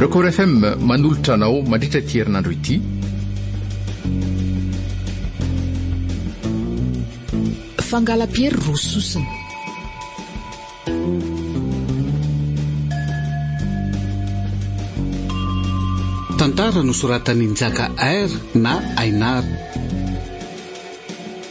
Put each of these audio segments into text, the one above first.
Record FM manolotra anao mandritra ity herinandro ity. Fangalam-piery roa sosona. Tantara nosoratan'i Njaka Air na Ainar.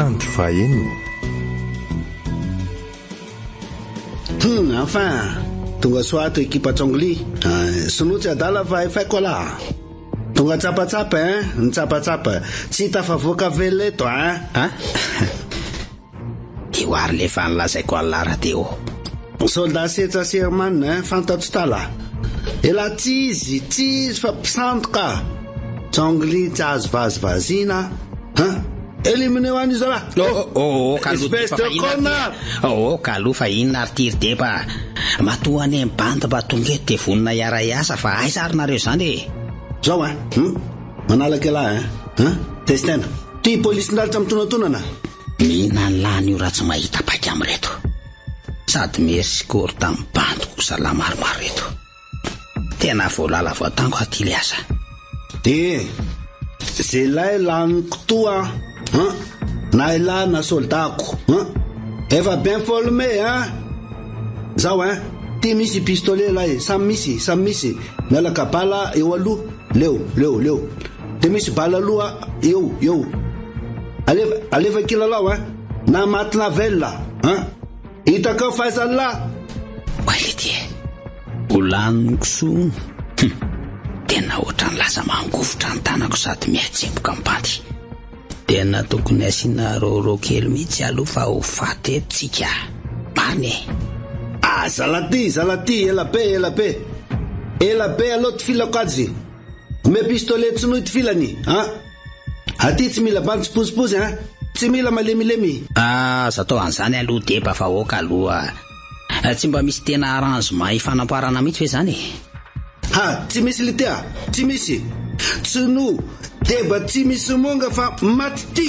Andro fahaenina. Hum, enfin! Tonga soa ato ekipa Chongli. Ah, sinoa tsy adala fa FA Koala. Tonga tsapatsapa hein, nitsapatsapa. Tsy tafavoaka velona eto hein. Ah? Teo ary le fa nolazaiko an'la Radeo. Soldat Setsa sy Herman eh, fantatro tala. Elah tsy izy, tsy izy fa mpisandoka. Chongli tsy azo vazivaziana hein. Éliminez-o any izy raha. Oh oh oh, oh ka aloha Espèce de connard. Oh oh ka aloha fa inona ary ty ry Deba. Matoa anie ny bandy mba tonga eto dia vonona hiara hiasa fa aiza ary nareo izany e. Zao hein, hum, manalaka elah hein, hein, testena. Ty police ndralitra mitonantonana. Mihinany lany io raha tsy mahita paika am reto. Sady merci kory tam bandy ko zala maromaro reto. Tena voalala voatango aho ty le asa. Eeh! Zelahy laniko toa an! Na elah na soldako an! Efa bien forme an! Zao an! Ty misy pistolet lahy, samy misy, samy misy, mialaka bala eo aloha, leo, leo, leo. Dia misy bala loha eo eo. Alefa alefa kilalao hein. Na maty na velona hein. Itakao Faisal la. Quality eh. Ho laniko soa. Hum. Tena ohatran'ny lasa mangovitra ny tanako sady mihatsemboka ny panty. Tena tokony asiana roro kely mihitsy aloha fa ho faty eto tsika. Marina eh. Ah zalaty zalaty ela be ela be. Ela be aloha tifilako azy. Omeo pistolet tsy nohy tifilany a! Aty tsy mila bandy tsy pozipozy a! Tsy mila malemilemy. Aza atao an'izany aloha deba vahoaka aloha a! Tsy mba misy tena arrangement hifanamparana mihitsy ve zany e! Ha! Tsy misy lite a! Tsy misy! Tsy noho deba tsy misy monga fa maty ty!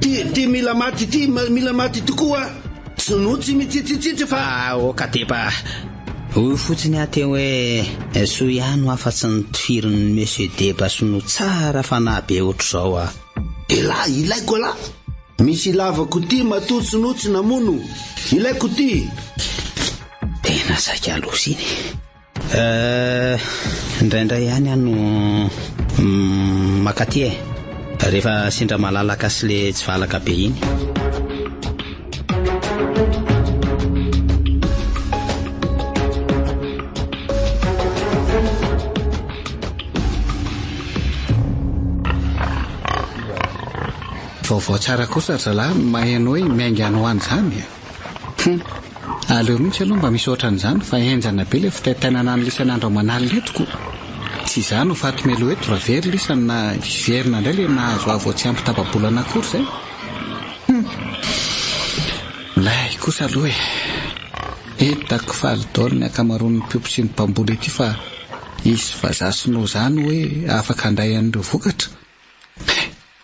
Ty ty mila maty ty mila maty tokoa Sinoa tsy mitsitsitsitry fa aoka tepa Hoy fotsiny aho teo hoe soa ihany ho afatsy ny tohirin'ny Monsieur Deba Sinoa tsara fanahy be otrzao a. Elah ilaiko alah. Misy ilavako ty matoa Sinoa tsy namono. Ilaiko ty. Tena saika loza iny. Eh, indraindray ihany aho no makaty eh. Rehefa sendra malalaka sy le tsy valaka be iny. vaovao tsara kosa zalahy mahay anao hoe miainga any ho any zany Hum. Aleo mihitsy aloha mba misy ohatran'izany fa henjana be ilay fitaitainana an'i Lisany andro aman'alina eto ko. Tsy izaho no faty meloa eto raha very Lisany na hiverina indray ilay nahazo ahy vao tsy ampy tapa-bolana akory izay. Hum. Milay kosa aloha e. Hitako faly daholo ny ankamaroan'ny mpiompy sy ny mpamboly ety fa hisy vazaha sinoa izany hoe afaka handray an'ireo vokatra.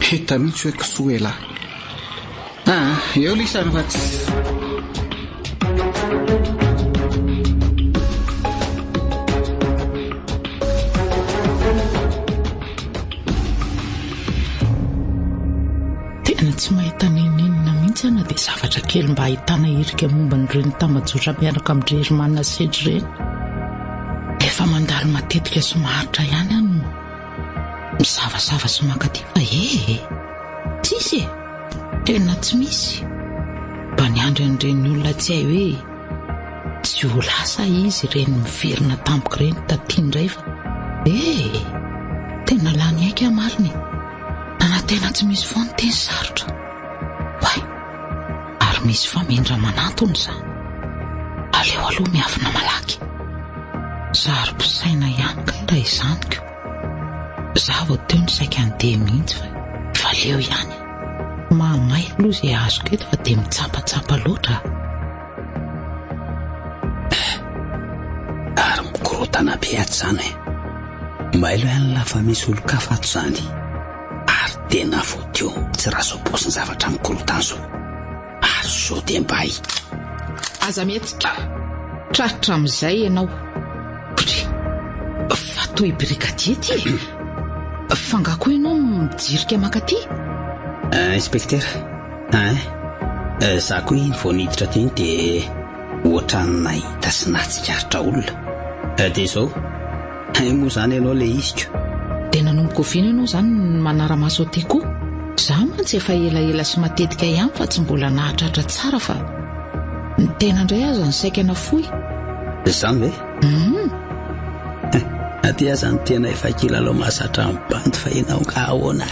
Peta mihitsy hoe kisoa elah. Ah eo lisany fa tsy. tsy mahita n'inon'inona mihitsy ana dia zavatra kely mba ahitana irika momba an'ireny tambajotra miaraka amin'ny dry Herman Sage ireny. Efa mandalo matetika sy maharitra ihany ano. Misavasava sy mankaty fa ee e! Tsisy e! Tena tsy misy! Mba niandry an'ireny olona tsy hay hoe tsy ho lasa izy ireny miverina tampoka ireny taty indray fa ee e! Tena lany aika marina e! Nanantena tsy misy foana teny sarotra! Oay! Ary misy famindra manantona izany. Aleo aloha miafina malaky. Zary mpisaina ihany kay raha izany ko. Za vao teo no saika handeha mihitsy fa fa leo ihany e. Mahamay aloha izay azoko eto fa dia mitsapatsapa loatra a. Eh, ary mikorontana be ato izany e. Mailo ihany la fa misy olon-kafa ato izany. ary tena vodio tsy razobozy ny zavatra mikorontana zao ary zo de mbay aza mihetsika tratra amizay ianao bry fa toy brigadier ty e fa nga koa ianao mijirika makaty eh, inspecteur hein eh? Eh, za koa iny vao niditra teny dia ohatran'ny nahita sy nahatsikaritra olona eh, dia izao Hay moa izany ianao leisiko. Dia nanomboka oviana ianao izany no manara-maso aty koa? Izaho mantsy efa elaela sy matetika ihany fa tsy mbola nahatratra tsara fa ny tena indray aza ny saika nafoy. Izany ve? Hum. Aty aza ny tena efa kilalao mahazatra ny bandy fa ianao angaha ahoana?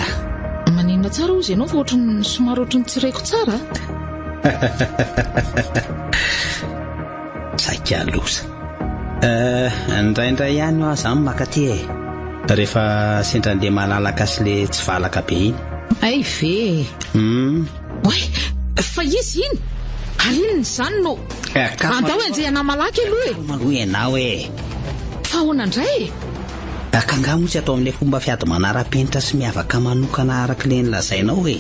Maninona tsara hozy ianao fa ohatran'ny somary ohatran'ny tsy reko tsara? Saika loza. Eh, indraindray ihany hoa zany maka aty e. Rehefa sendra andeha malalaka sy le tsy valaka be iny. Hay ve e. Hum. Oay, fa izy iny? Ary inona izany no. Eh, ka. Andao enjehana malaky aloha e. Maloha ianao e. Fa ahoana indray e? Ka angaha moa tsy atao amin'ilay fomba fiady manara-penitra sy miavaka manokana araka ilay nolazainao e?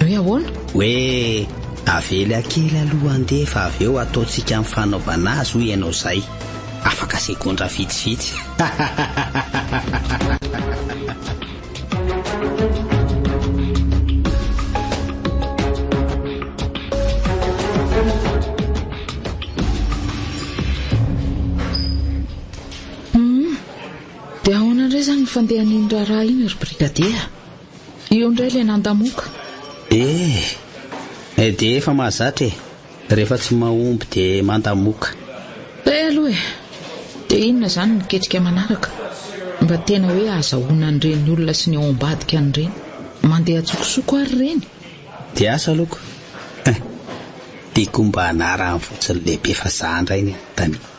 Hoe ahoana? Hoe avela kely aloha handeha fa avy eo ataontsika ny fanaovana azy hoy ianao izay. Afaka segondra vitsivitsy. Dia ahoana indray izany ny fandehan'iny raharaha iny ry Brigadier? Eo indray ilay nandamoka. Eh! Eh dia efa mahazatra e! Rehefa tsy mahomby dia mandamoka. Eh aloha e! Dia inona izany ny ketrika manaraka? Mba tena hoe ahazahoana an'ireny olona sy ny ao ambadika an'ireny? Mandeha an-tsokosoko ary ireny? Dia asa aloko. Eh! Tiako mba hanarahany fotsiny lehibe fa za indray ny anontaniako.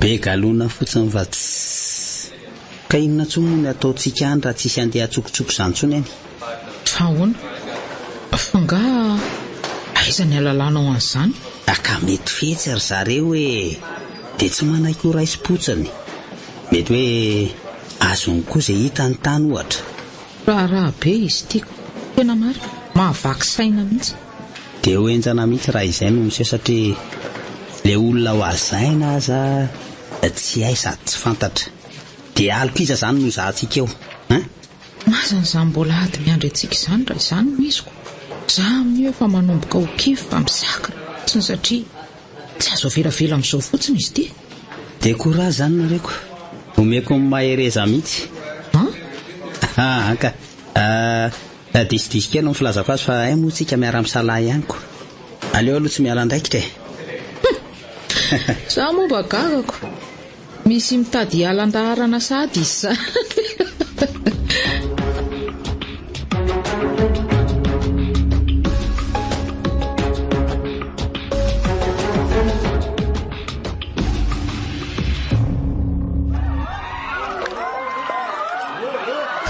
Be galona fotsiny fa tsy Ka inona intsony moa ny ataontsika any raha tsisy andeha atsokotsoko izany intsony any? Fa ahoana? Fa nga aiza ny alalanao an'izany? Ah ka mety fetsy ry zareo e! Dia tsy manaiky ho raisim-potsiny. Mety hoe azony koa izay hitany tany ohatra. Raharaha be izy ity ka! Tena marina, mahavaky saina mihitsy. Dia ho henjana mihitsy raha izay no miseho satria ilay olona hohazaina aza dia tsy hay sady tsy fantatra. Dia aloka iza izany no hizahantsika eo an? Mazana izany mbola hady miandry antsika izany raha izany no izy ko za amin'io efa manomboka ho kivy fa mizakra fotsiny satria tsy azo avelavela amin'izao fotsiny izy ity. Dia courage izany nareo ko. Omeko ny mahereza mihitsy. An? An ka. Tadisodiso kely ny filazako azy fa hay moa tsika miara misalahy ihany ko. Aleo aloha tsy miala andraikitra e. Humm. Za moa mba gagako. Misy mitady hiala andaharana sahady izy zany.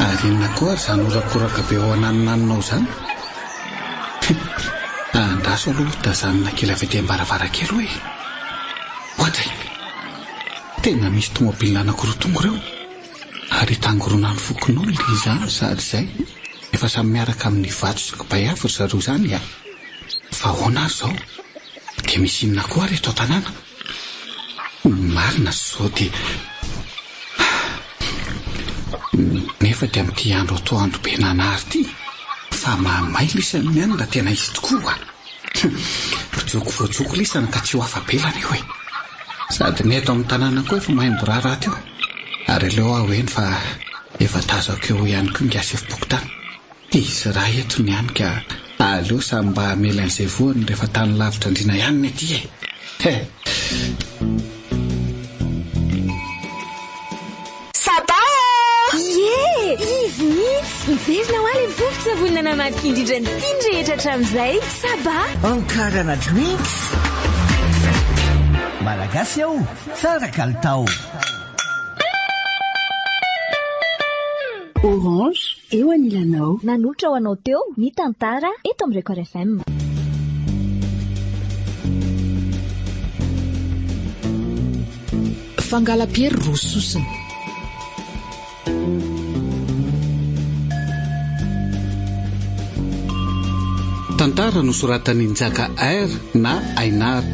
Ary inona koa ary izany horakoraka be ao ananonanonao izany? Hum, andraso aloha hotazanina kely avy aty am-baravarankely hoe. Oadray! Tena misy tomobilina anankiroa tonga ireo, ary itangoronan'ny fokonao i Liza any sady izay efa samy miaraka amin'ny vato sy kibay avy ry zareo izany a! Fa ahoana ary izao? Dia misy inona koa ary eto an-tanàna? Ny marina izao dia Nefa dia amin'ity andro atoandro be nanary ity fa mahamay lisany ny any raha tena izy tokoa a! Joko voajoko lisany ka tsy ho afa-belany io e! Sady ny eto amin'ny tanàna koa efa mahay miraharaha teo ary aleo aho heno fa efa tazako eo ihany koa ny gasifompokotany. Izy iray eto ny any ka aleo samy mba hamela an'izay voany rehefa tany lavitra andriana ihany ny aty e! He! Sabaa a! Ie! Izy mihitsy! Miverina ho ahy ilay vovon-tsavony nanamadika indrindra ny tiany rehetra hatramin'izay. Sabaa! Ankarana Drinks! Malagasy aho, tsara kalitao. Orange, eo anilanao. Nanolotra ho anao teo ny tantara eto amin'ny Record FM. Fangala-piery roa sosona. Tantara nosoratan'i Njaka Air na Ainar.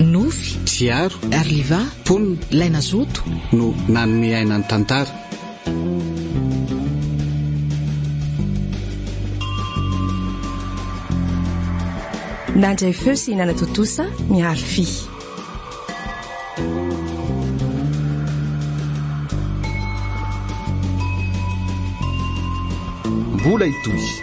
Nofy, Tsiaro, Arliva, Mponina, Ilay nazoto, no nanome aina ny tantara. Nandray feo sy nanatontosa ny harfy. Mbola hitohy.